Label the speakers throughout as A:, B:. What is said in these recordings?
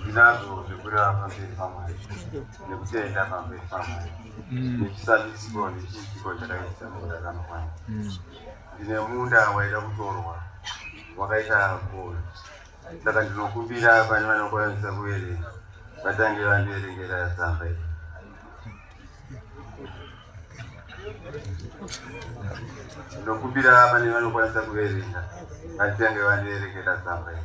A: ndinazvo zvekureva pamberi pamwari nekutenda pamberi pamwari mm. nechisandisiko nechiitiko chakaita munda kanokwana mm. ndine munda waida kutorwa wakaita gol saka ndinokumbira pane vanokwanisa kuverenga vatange vandiverengera tsamba iyi ndinokumbira pane vanokwanisa kuverenga vatange vandiverengera tsamba iyi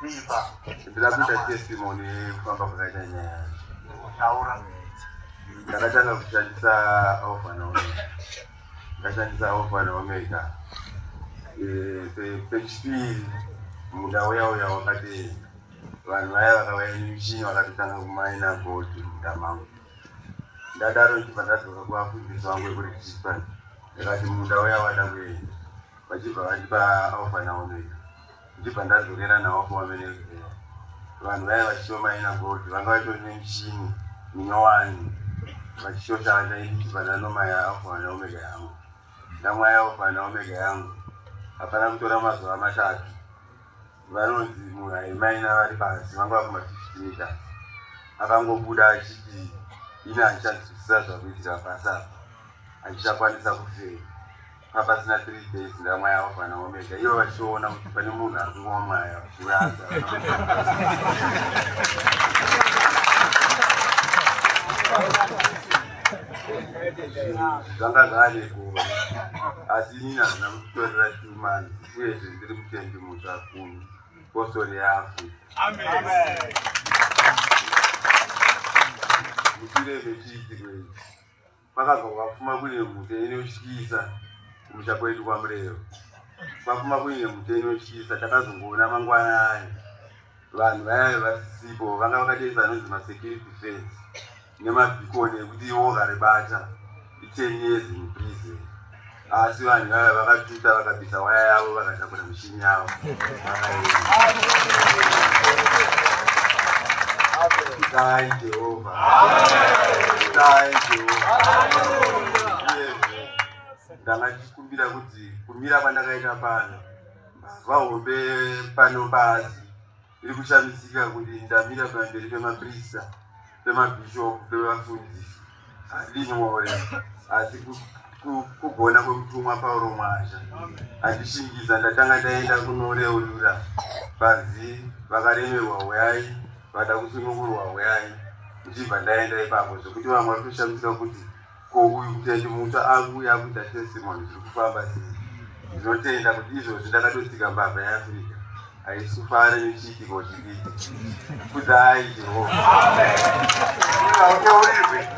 B: Kuipa. Ndira kuita
A: testimony kufamba kwakaita nyaya. Taura. Ndakatanga kushandisa Alpha na Omega. Ndakashandisa Alpha na Omega. Eh, pechipiri muda uya uya wakati vanhu vaya vakauya nemuchini vakatotanga kumaina gold muda mangu. Ndadaro ndichibva ndadzoka kuvafundisi vangu vekuri Chispan. Ndakati muda uya wada kuenda. Vachibva vandipa Alpha na Omega. ndibva ndadzokera nawo kumavenezera vanhu vaya vachitiwo maina gold vanga vatori nemichini minyowani vachishota ndaiti pananoma yaafa naomega yangu ndamwa yaofa naomega yangu hapana kutora mazuva matatu vanonzi munhu aimaina vari pasi vanga vakuma fifty meters akangobuda achiti ini handichanzwisisa zvakuitira pasi apa handichakwanisa kufeya apasina three days ndamwaya alfa naomega ivo vachiona kuti pane munhu ari kungwa mwaya kuyaza zvanga zvane kuva asi inini hazvina kutitorera tumani uyezve ndiri mutendi mutsva kumi postori yafu
B: mushure
A: mechiitiko ichi Kwakabva kwapfuma kuine mhute inotyisa kumusha kwedu kwaMurero. Kwapfuma kuine mhute inotyisa takazongoona mangwana ayo vanhu vayave vasisipo vanga vakatoisa anonzi masecurity fence nemabhikoni ekuti iwo karibata iteni yezinhu prison Asi vanhu vaya vakatuta vakabvisa waya yavo vakatakura mishini yavo. Dai Jehovha. Dai Jehovha. Uyezve ndanga ndichikumbira kuti kumira kwandakaita pano mbavha hombe pano pasi Ndiri kushamisika kuti ndamira pamberi pemaprista, pemabhishopu, pevafundisi handini more asi kugona kwemutumwa pauro mwazha andishingidza ndatanga ndaenda kunoreurura panzi vakaremerwa huyai vada kusunungurwa huyai ndichibva ndaenda ipapo zvekuti vamwe vari kushamisika kuti Ko uyu Tete mutsva akuuya akuita testimony zviri kufamba sei? Ndinotenda kuti izvozvi ndakatotsika mbavha yeAfrica haisi kufara nechiitiko chidiki. Kudzai Jehovha. Hautaurirwe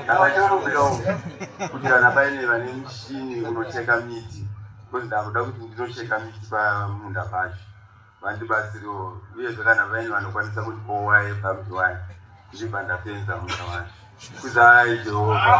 A: ndakatorumbira uku kuti kana paine vane mushini unocheka miti because ndakuda kuti ndinocheka miti pamunda pacho vandibatsirewo uyezve kana vaini vanokwanisa kuti kowai pamziwai ndichibva ndapenza muna wani kuzai
B: jehovha